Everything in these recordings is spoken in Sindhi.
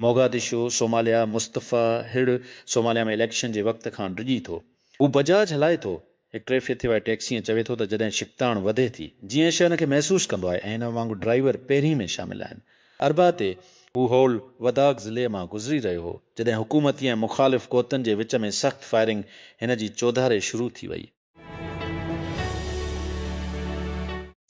موگادشو، صوماليا، مصطفيٰ هڙ صوماليا ۾ اليڪشن جي وقت کان ڊڄي ٿو. هو بجاج هلائي ٿو. هڪ ٽيفيء تي وائي ٽيڪسي ۽ چوي ٿو ته جڏهن ڇڪتاڻ وڌي ٿي، جيئن هي شيء ان کي محسوس ڪندو آهي ۽ هن وانگر ڊرائيور پهرين ۾ شامل آهن. اربع تي، هو هول وداڪ ضلعي مان گذري رهيو هو، جڏهن حڪومتي ۽ مخالف قوتن جي وچ ۾ سخت فائرنگ هن جي چوڌاري شروع ٿي وئي.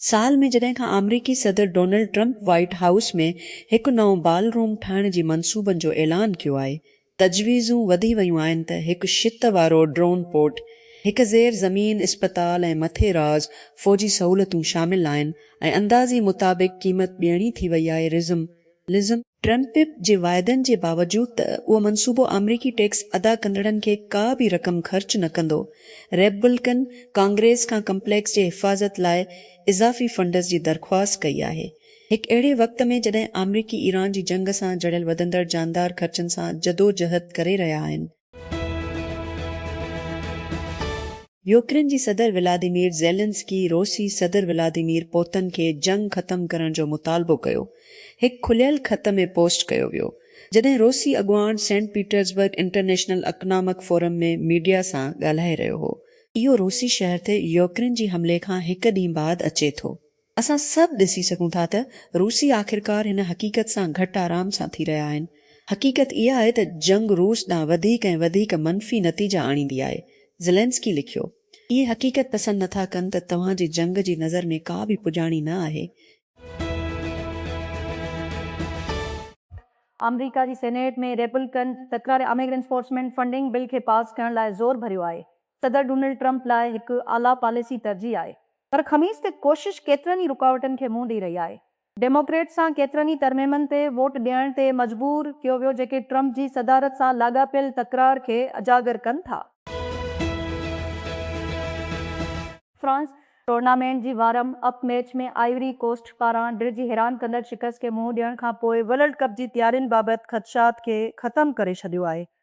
سال ۾ جڏهن کان آمريڪي صدر ڊونلڊ ٽرمپ وائيٽ هائوس ۾ هڪ نئون بال روم ٺاهڻ جي منصوبن جو اعلان ڪيو آهي، تجويزون وڌي ويون آهن ته هڪ شت وارو ڊرون پورٽ، هڪ زير زمين اسپتال ۽ مٿي راز فوجي سهولتون شامل آهن ۽ اندازي مطابق قيمت ٻيڻي ٿي وئي آهي، رزم لزم. ٽرمپ پ پ جي واعدن جي باوجود ته اهو منصوبو آمريڪي ٽيڪس ادا ڪندڙن کي ڪا به رقم خرچ نه ڪندو، ريپبلڪن ڪانگريس کان ڪمپليڪس جي حفاظت لاء اضافي فنڊز جي درخواست ڪئي آهي. هڪ اهڙي وقت ۾ جڏهن آمريڪي ايران جي جنگ سان جڙيل وڌندڙ جاندار خرچن سان جدوجهد ڪري رهيا آهن، يوڪرين جي صدر ولاديمير زيلنسڪي روسي صدر ولاديمير پوتن کي جنگ ختم ڪرڻ جو مطالبو ڪيو، هڪ کليل خط ۾ پوسٽ ڪيو ويو، جڏهن روسي اڳواڻ Saint Petersburg International Economic Forum ۾ media سان ڳالهائي رهيو هو. اهو روسي شهر تي يوڪرين جي حملي کان هڪ ڏينهن بعد اچي ٿو، اسان سڀ ڏسي سگهون ٿا ته روسي آخرڪار هن حقيقت سان گهٽ آرام سان ٿي رهيا آهن. حقيقت اها آهي ته جنگ روس ڏانهن وڌيڪ ۽ وڌيڪ منفي نتيجا آڻيندي آهي. زيلينسڪي لکيو. اهي حقيقت پسند نه ٿا ڪن ته توهان جي جنگ جي نظر ۾ ڪا به پڄاڻي نه آهي. آمريڪا جي سينيٽ ۾ ريپبلڪن تڪراري اميگرنٽس فورسمينٽ فنڊنگ بل کي پاس ڪرڻ لاء زور ڀريو آهي. صدر ڊونلڊ ٽرمپ لاء هڪ اعليٰ پاليسي ترجيح آهي پر خميس تي ڪوشش ڪيترن ئي رڪاوٽن کي منهن ڏئي رهي آهي. ڊيموڪريٽس سان ڪيترن ئي ترميمن تي ووٽ ڏيڻ تي مجبور ڪيو ويو جيڪي ٽرمپ جي صدارت سان لاڳاپيل تڪرار کي اجاگر ڪن ٿا. فرانس ٽورنامينٽ جي warm up match ۾ Ivory Coast پاران ڊر جي حيران ڪندڙ شڪست کي منهن ڏيڻ کانپوء ورلڊ ڪپ جي تيارين بابت خدشات کي ختم ڪري ڇڏيو آهي.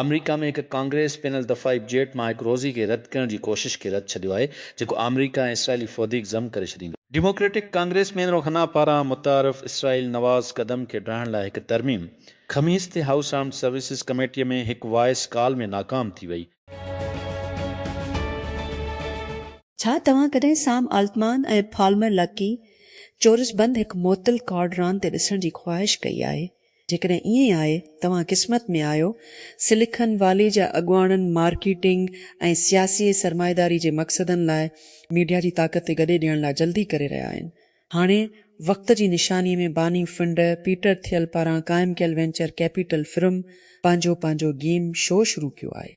آمريڪا ۾ هڪ ڪانگريس پين الدفاعي جيٽ مان هڪ روزي کي رد ڪرڻ جي ڪوشش کي رد ڇڏيو آهي جيڪو آمريڪا ۽ اسرائيلي فوڌيڪ ضم ڪري ڇڏيندو. ڊيموڪريٽڪ ڪانگريس مين روخنا پاران متعارف اسرائيل نواز قدم کي ڊاهڻ لاء هڪ ترميم خميس تي هائوس آرمڊ سروسز ڪميٽي ۾ هڪ وائس ڪال ۾ ناڪام ٿي وئي. ڇا توهان ڪڏهن سام آلٽمان ۽ پالمر لڪي چورس بند هڪ معطل ڪارڊ راند تي ڏسڻ جي خواهش ڪئي آهي؟ جيڪڏهن ائين آهي، توهان قسمت ۾ آهيو. سليڪن والي جا اڳواڻن مارڪيٽنگ ۽ سياسي سرمائيداري جي مقصدن لاء ميڊيا جي طاقت تي گڏي ڏيڻ لاء جلدي ڪري رهيا آهن. هاڻي وقت جي نشاني ۾ باني فنڊ پيٽر ٿيل پاران قائم ڪيل وينچر ڪيپيٽل فرم پنهنجو پنهنجو گيم شو شروع ڪيو آهي.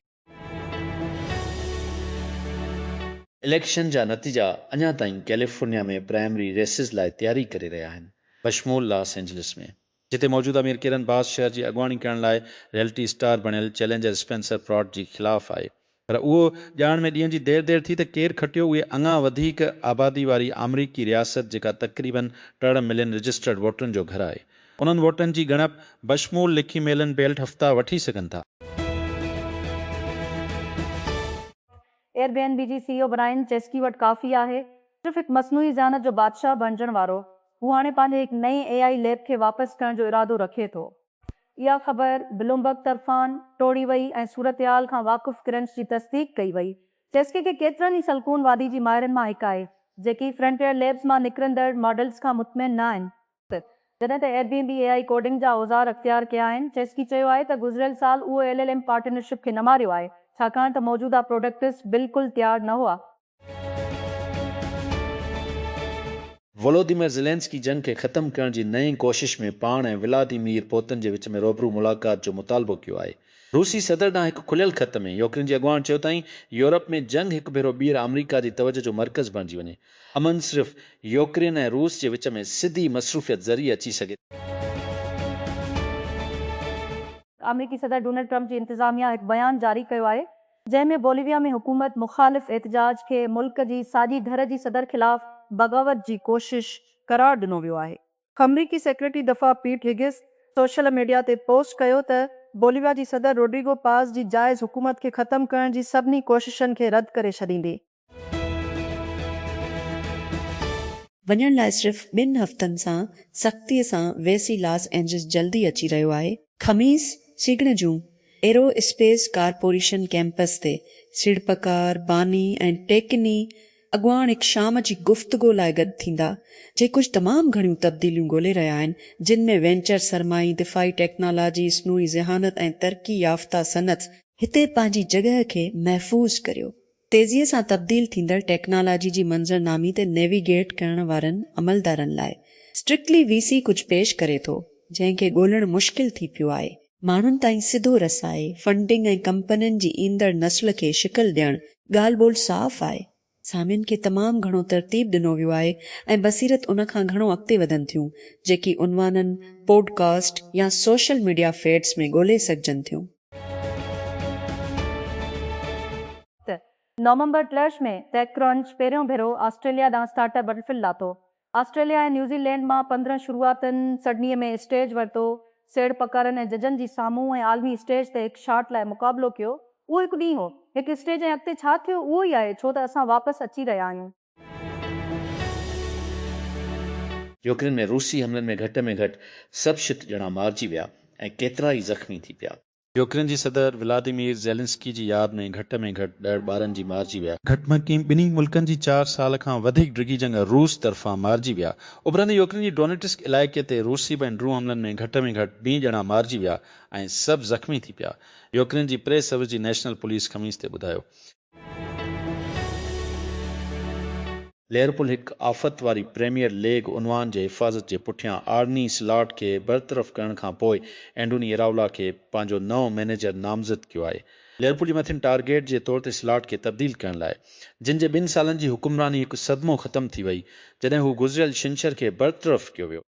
اليڪشن جا نتيجا اڃا تائين ڪيليفورنيا ۾ پرائمري ريسز لاء تياري ڪري رهيا آهن بشمول لاس اينجلس ۾ جتي موجوده ميئر ڪيرن باس شهر جي اڳواڻي ڪرڻ لاء ريئلٽي اسٽار بڻيل چئلينجر اسپينسر پراٽ جي خلاف آهي پر اهو ڄاڻڻ ۾ ڏينهن جي دير دير ٿي ته ڪير کٽيو اهي اڱا وڌيڪ آبادي واري آمريڪي رياست جيڪا تقريبن ٽڙ ملين رجسٽرڊ ووٽرن جو گهر آهي انهن ووٽن جي ڳڻپ بشمول لکي ميلن بيلٽ هفتا وٺي سگهن ٿا. ايئر بي اين بي جي C E O Brian Chesky وٽ ڪافي آهي صرف هڪ مصنوعي ذهانت جو بادشاهه بڻجڻ وارو. هو هاڻي پنهنجي هڪ نئين اي آئي ليب کي واپس ڪرڻ جو ارادو رکي ٿو. اها خبر بلومبرگ طرفان ٽوڙي وئي ۽ صورتحال کان واقف ڪرنچ جي تصديق ڪئي وئي. چيسڪي کي ڪيترن ئي سلڪون وادي جي ماهرن مان هڪ آهي، جيڪي فرنٽيئر ليبز مان نڪرندڙ ماڊلز کان مطمئن نه آهن. جڏهن ته Airbnb A I coding جا اوزار اختيار ڪيا آهن. چيسڪي چيو آهي ته گذريل سال اهو ايل ايل ايم پارٽنرشپ کي نه ماريو آهي، ڇاڪاڻ ته موجوده پروڊڪٽس بلڪل تيار نه هئا. ولوديمير زيلينسڪي جنگ کي ختم ڪرڻ جي نئين ڪوشش ۾ پاڻ ۽ ولاديمير پوتن جي وچ ۾ روبرو ملاقات جو مطالبو ڪيو آهي. روسي صدر ڏانهن هڪ کليل خط ۾ يوڪرين جي اڳواڻ چيو تائين يورپ ۾ جنگ هڪ ڀيرو ٻيهر آمريڪا جي توجهه جو مرڪز بڻجي وڃي. امن صرف يوڪرين ۽ روس جي وچ ۾ سڌي مصروفيت ذريعي اچي سگهي ٿو. آمريڪي صدر ڊونلڊ ٽرمپ جي انتظاميا هڪ بيان جاري ڪيو آهي جنهن ۾ بوليويا ۾ حڪومت مخالف احتجاج کي ملڪ جي ساڄي ڌر جي صدر خلاف بغاوت جي ڪوشش قرار ڏنو ويو آهي. آمريڪي سيڪريٽري دفاع پيٽ هيگس سوشل ميڊيا تي پوسٽ ڪيو ته بوليويا جي صدر روڊريگو پاز جي جائز حڪومت کي ختم ڪرڻ جي سڀني ڪوششن کي رد ڪري ڇڏيندي. وڃڻ لاء صرف ٻن هفتن سان سختي سان ويسي لاس اينجلس جلدي اچي رهيو آهي. خميس سگهڙ جون ايرو اسپيس ڪارپوريشن ڪيمپس تي سيڙپڪار، باني ۽ ٽيڪني اڳواڻ هڪ شام جي گفتگو لاء گڏ ٿيندا، جي ڪجهه تمام گهڻيون تبديليون ڳولي رهيا آهن، جن ۾ وينچر سرمائي، دفاعي ٽيڪنالاجي، اصنوعي ذهانت ۽ ترقي يافته صنعت. هتي پنهنجي جڳهه کي محفوظ ڪريو. تيزيء سان تبديل ٿيندڙ ٽيڪنالاجي جي منظرنامي تي نيويگيٽ ڪرڻ وارن عملدارن لاء Strictly VC ڪجهه پيش ڪري ٿو، جنهن کي ڳولڻ مشڪل ٿي پيو آهي. ماڻهن تائين سڌو رسائي، فنڊنگ ۽ ڪمپنين جي ايندڙ نسل کي شڪل ڏيڻ ڳالهه ٻولهه صاف آهي. سامين کي تمام گهڻو ترتيب ڏنو ويو آهي ۽ بصيرت ان کان گهڻو اڳتي وڌن ٿيون، جيڪي عنوانن، پوڊ ڪاسٽ يا سوشل ميڊيا فيڊز ۾ ڳولهي سگهجن ٿيون. ته نومبر ٽلهش ۾ ٽيڪ ڪرنچ پهريون ڀيرو آسٽريليا ڏانهن اسٽارٽ اپ بٽلفل لاتو. آسٽريليا ۽ نيوزي لينڊ مان پندرهن شروعاتين سڊنيء ۾ اسٽيج ورتو، سيڙ پڪارن ۽ ججن جي سامهون ۽ عالمي اسٽيج تي هڪ شاٽ لاء مقابلو ڪيو. اهو هڪ ڏينهن هو. هڪ اسٽيج ۽ اڳتي ڇا ٿيو اهو ئي آهي، ڇو ته اسان واپس اچي رهيا آهيون. يوڪرين ۾ روسي حملن ۾ گهٽ ۾ گهٽ سڀ شت ڄڻا مارجي ويا ۽ ڪيترائي زخمي ٿي پيا. يوڪرين جي صدر ولاديمير زيلنسڪي جي ياد ۾ گهٽ ۾ گهٽ ڏهه ٻارن جي مارجي ويا. گهٽ ۾ ٽي ٻنهي ملڪن جي چار سال کان وڌيڪ ڊگهي جنگ روس طرفان مارجي ويا. اڀرندي يوڪرين جي ڊونيٽسڪ علائقي تي روسي بين ڊرون حملن ۾ گهٽ ۾ گهٽ بي ڄڻا مارجي ويا ۽ سڀ زخمي ٿي پيا. يوڪرين جي پريس سروس جي نيشنل پوليس خميس تي ٻڌايو ليورپول هڪ آفت واري پريميئر ليگ عنوان جي حفاظت جي پٺيان آرني سلاٽ کي برطرف ڪرڻ کان پوء اينڊوني اراولا کي پنهنجو نئون مئنيجر نامزد ڪيو آهي. ليورپول جي مٿين ٽارگيٽ جي طور تي سلاٽ کي تبديل ڪرڻ لاء جن جي ٻن سالن جي حڪمراني هڪ صدمو ختم ٿي وئي جڏهن هو گذريل ڇنڇر کي برطرف ڪيو ويو.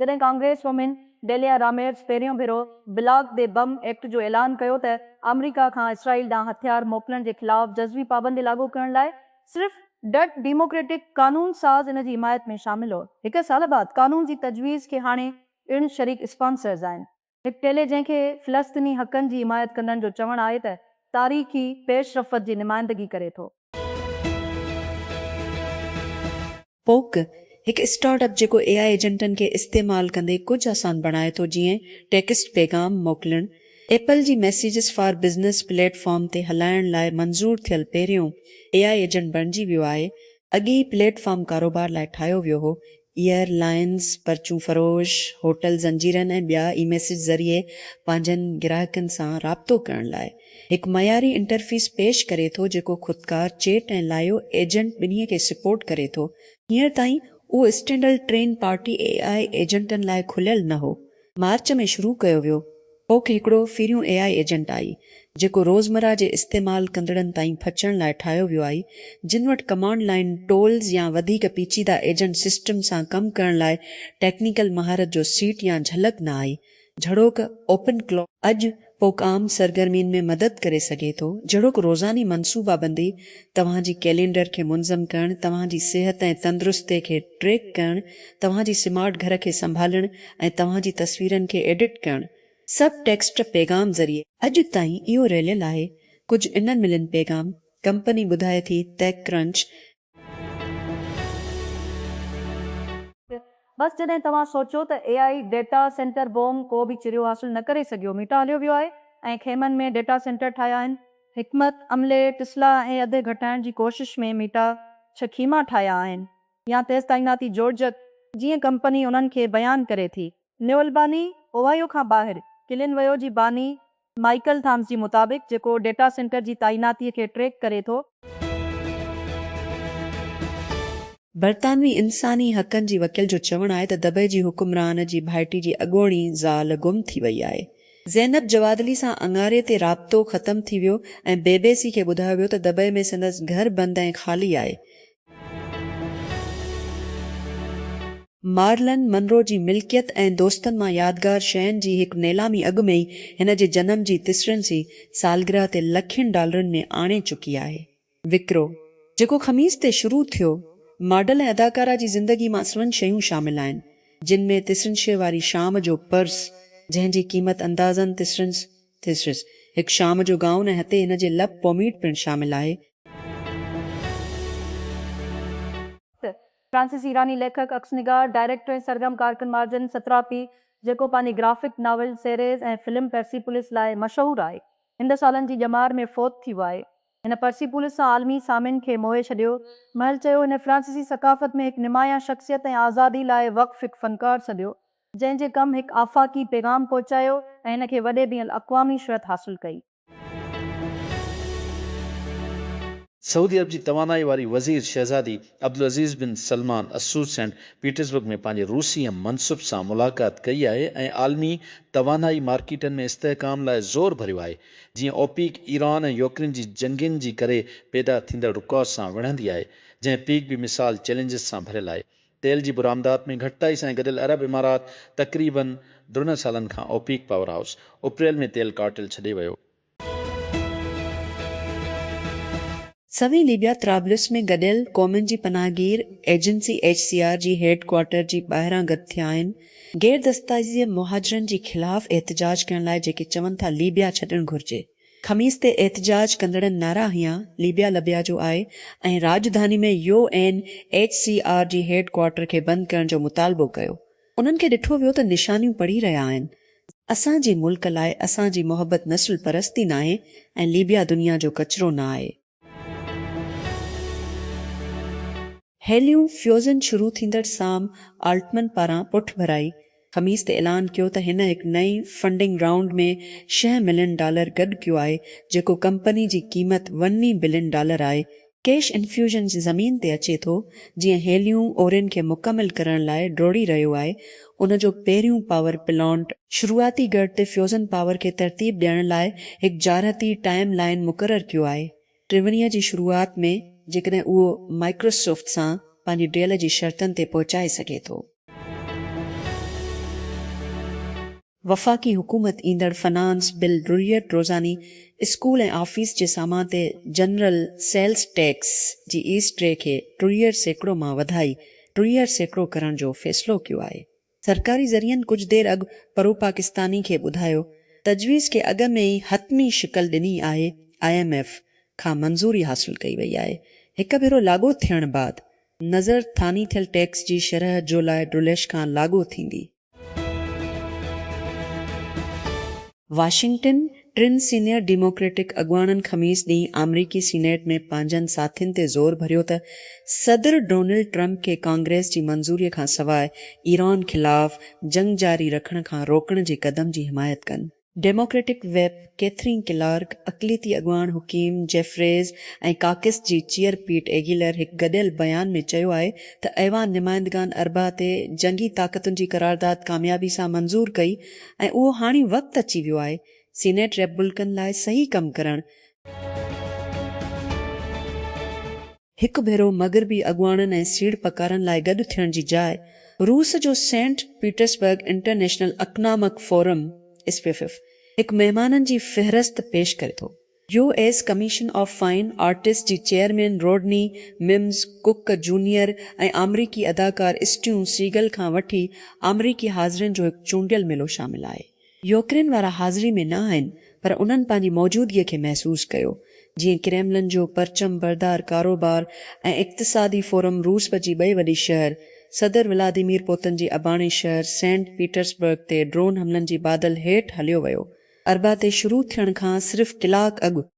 جڏهن ڪانگريس وومين ڊيليا راميرز پهريون ڀيرو بلاڪ دي بم ايڪٽ جو اعلان ڪيو ته آمريڪا کان اسرائيل ڏانهن هٿيار موڪلڻ جي خلاف جزوي پابندي لاڳو ڪرڻ لاء صرف ڊٽ ڊيموڪريٽڪ قانون ساز ان جي حمايت ۾ شامل هو. هڪ سال بعد قانون جي تجويز کي هاڻي پڻ شريڪ اسپانسرز آهن. هڪ چيلي جنهن کي فلسطيني حقن جي حمايت ڪندڙن جو چوڻ آهي ته تاريخي پيش رفت جي نمائندگي ڪري ٿو. پوڪ، هڪ اسٽارٽ اپ جيڪو اي آء ايجنٽن کي استعمال ڪندي ڪجهه آسان بڻائي ٿو جيئن ٽيڪسٽ پيغام موڪلڻ، ايپل جي messages for business platform تي هلائڻ لاء منظور ٿيل پهريون اي آء ايجنٽ بڻجي ويو آهي، اڳي هي پليٽ فارم ڪاروبار لاء ٺاهيو ويو هو، ايئر لائنز، پرچون فروش، هوٽل زنجيرن ۽ ٻيا اي ميسيج ذريعي پنهنجن گراهڪن سان رابطو ڪرڻ لاء هڪ معياري انٽرفيس پيش ڪري ٿو جيڪو خودڪار چيٽ ۽ لائيو ايجنٽ ٻنهي کي سپورٽ ڪري ٿو. هينئر تائين اهو standalone train party A I ايجنٽن لاء کليل نه هو مارچ ۾ شروع ڪيو ويو ھوڪ ھڪڙو پھريون اي آء ايجنٽ آھي جيڪو روزمره جي استعمال ڪندڙن تائين پھچڻ لاء ٺاھيو ويو آھي جن وٽ ڪمانڊ لائين ٽولز يا وڌيڪ پيچيده ايجنٽ سسٽم سان ڪم ڪرڻ لاء ٽيڪنيڪل مھارت جو سيٽ يا جھلڪ نه آھي جھڙوڪ اوپن ڪلو اڄ پوک عام سرگرمين ۾ مدد ڪري سگهي ٿو، جهڙوڪ روزاني منصوبابندي، توهان جي ڪئلينڊر کي منظم ڪرڻ، توهان جي صحت ۽ تندرستي کي ٽريڪ ڪرڻ، توهان جي سمارٽ گهر کي سنڀالڻ ۽ توهان جي تصويرن کي ايڊٽ ڪرڻ. سب ٽيڪسٽ پيغام ذريعي. اڄ تائين اهو رليل آهي ڪجهه انر ملين پيغام، ڪمپني ٻڌائي ٿي TechCrunch، بس جڏهن توهان سوچيو ته A I data centre boom ڪو به چريو حاصل نه ڪري سگهيو ميٽا هليو ويو آهي ۽ خيمن ۾ ڊيٽا سينٽر ٺاهيا آهن. حڪمت عملي ٽسلا ۽ اڌ گهٽائڻ جي ڪوشش ۾ ميٽا ڇهه خيما ٺاهيا آهن يا تيز تعيناتي جوڙجڪ جيئن ڪمپني انهن کي بيان ڪري ٿي. نيولباني اوهائيو کان ٻاهر ڪلين ويو جي باني مائيڪل ٿامس جي مطابق، جيڪو ڊيٽا سينٽر جي تعيناتي کي ٽريڪ ڪري ٿو. برطانوي انساني حقن جي وڪيل جو چوڻ آهي ته دبئي جي حڪمران جي ڀائٽي جي اڳوڻي زال گم ٿي وئي آهي. زينب جوادلي سان اڱاري تي رابطو ختم ٿي ويو ۽ بي بي سي کي ٻڌايو ويو ته دبئي ۾ سندس گهر بند ۽ خالي آهي. مارلن منرو جي ملڪيت ۽ دوستن مان يادگار شين جي هڪ نيلامي اڳ ۾ ئي هن جي جنم جي تسرنسي سالگرهه تي لکين ڊالرن ۾ آڻي چڪي آهي. وڪرو، جيڪو خميس تي شروع ٿيو، ماڊل ۽ اداڪارا جي زندگي مان سوين شيون شامل آهن، جن ۾ تسرنشي واري شام جو پرس، جنهن جي قيمت اندازن تسرنس، Thesaurus، هڪ شام جو گائون ۽ هتي هن جي لپ پوميٽ پڻ شامل آهي. ٿ. فرانسيسي ايراني ليکڪ، عڪس نگار، ڊائريڪٽر ۽ سرگرم ڪارڪن مارجن ستراپي، جيڪو پنهنجي graphic novel series ۽ film Persepolis لاء مشهور آهي، هن سالن جي ڄمار ۾ فوت ٿي ويو آهي. هن پرسيپولس سان عالمي سامين کي موهي ڇڏيو. مهل چيو، هن فرانسيسي ثقافت ۾ هڪ نمايان شخصيت ۽ آزادي لاء وقف هڪ فنڪار سڏيو، جنهن جي ڪم هڪ آفاقي پيغام پهچايو ۽ هن کي وڏي بين الاقوامي شهرت حاصل ڪئي. سعودي عرب جي توانائي واري وزير شهزادي عبدالعزيز بن سلمان اسود سينٽ پيٽرزبرگ ۾ پنهنجي روسي هم منصب سان ملاقات ڪئي آهي ۽ عالمي توانائي مارڪيٽن ۾ استحڪام لاء زور ڀريو آهي جيئن اوپيڪ ايران ۽ يوڪرين جي جنگين جي ڪري پيدا ٿيندڙ رڪاو سان وڙهندي آهي جنهن پيڪ به مثال چئلينجز سان ڀريل آهي تيل جي برآمدات ۾ گهٽتائي سان گڏيل عرب امارات تقريباً ڊرنهن سالن کان اوپيڪ پاور هائوس اپريل ۾ تيل ڪارٽيل ڇڏي ويو. سوين ليبيا طرابلس ۾ گڏيل قومن جي پناهه گير ايجنسي ايڇ سي آر جي هيڊ ڪوارٽر جي ٻاهران گڏ ٿيا آهن غير دستايزيء مهاجرن جي خلاف احتجاج ڪرڻ لاء جيڪي چون ٿا ليبيا ڇڏڻ گهرجي. خميس تي احتجاج ڪندڙن نعرا هنيا ليبيا لبيا جو آء ۽ راڄڌاني ۾ U N H C R جي هيڊ ڪوارٽر کي بند ڪرڻ جو مطالبو ڪيو انهن کي ڏٺو ويو ته نشانيون پڙهي رهيا آهن اسان جي ملڪ لاء اسان جي محبت نسل پرستي ناهي ۽ ليبيا دنيا جو ڪچرو نه آهي. هيليون فيوزن شروع ٿيندڙ سام آلٽمن پاران پٺڀرائي خميس تي اعلان ڪيو ته هن هڪ نئين فنڊنگ رائونڊ ۾ شينهن ملين ڊالر گڏ ڪيو آهي جيڪو ڪمپني جي قيمت وني بلين ڊالر آهي. ڪيش انفيوزن جي زمين تي اچي ٿو جيئن هيليون اورين کي مڪمل ڪرڻ لاء ڊوڙي رهيو آهي ان جو پهريون پاور پلانٽ شروعاتي ڳڙهه تي فيوزن پاور کي ترتيب ڏيڻ لاء هڪ جارحتي ٽائيم لائين مقرر ڪيو آهي. ٽيونيء جي شروعات ۾ جيڪڏهن اهو مائڪروسوفٽ سان پنهنجي ڊيل جي شرطن تي پهچائي سگهي ٿو. وفاقي حڪومت ايندڙ فنانس بل ضروريت روزاني اسڪول ۽ آفيس جي سامان تي جنرل سيلز ٽيڪس جي ايس ٽري کي ضروريت سيڪڙو مان وڌائي ٽيهه سيڪڙو ڪرڻ جو فيصلو ڪيو آهي. سرڪاري ذريعن ڪجهه دير اڳ پروپاڪستاني کي ٻڌايو تجويز کي اڳ ۾ ئي حتمي شڪل ڏني آهي، آء ايم ايف کان منظوري حاصل ڪئي وئي آهي، هڪ ڀيرو لاڳو ٿيڻ بعد نظر ٿاني ٿيل ٽيڪس جي شرح جولاء ڊوليش کان لاڳو ٿيندي. واشنگٽن، ٽن سينيئر ڊيموڪريٽڪ اڳواڻن خميس ڏينهن آمريڪي سينيٽ ۾ پنهنجن ساٿين تي زور ڀريو ته صدر ڊونلڊ ٽرمپ کي ڪانگريس جي منظوري کانسواء ايران خلاف جنگ جاري رکڻ کان روڪڻ جي قدم جي حمايت ڪن. ڊيموڪريٽڪ ويپ ڪيٿرين ڪلارڪ، اقليتي اڳواڻ حڪيم جيفريز ۽ ڪاڪس جي چيئر پيٽ ايگيلر هڪ گڏيل بيان ۾ چيو آهي ته ايوان نمائندگان اربع تي جنگي طاقتن جي قرارداد ڪاميابي سان منظور ڪئي ۽ اهو هاڻي وقت اچي ويو آهي سينيٽ ريپبلڪن لاء صحيح ڪم ڪرڻ هڪ ڀيرو مغربي اڳواڻن ۽ سيڙپڪارن لاء گڏ ٿيڻ جي جاء روس جو Saint Petersburg International Economic Forum, SPIEF, هڪ مهمانن جي فهرست پيش ڪري ٿو. U S Commission of Fine Arts جي chairman Rodney Mims Cook junior ۽ آمريڪي اداڪار اسٽيون سيگل کان وٺي آمريڪي حاضرين جو هڪ چونڊيل ميلو شامل آهي. يوڪرين وارا حاضري ۾ نه آهن پر انهن پنهنجي موجودگي کي محسوس ڪيو، جيئن ڪريملن جو پرچم بردار ڪاروبار ۽ اقتصادي فورم روسب جي ٻئي وڏي شهر صدر ولاديمير پوتن جي اباڻي شهر سينٽ پيٽرسبرگ تي ڊرون حملن جي بادل هيٺ هليو ويو. اربع تي شروع ٿيڻ کان صرف ڪلاڪ اڳ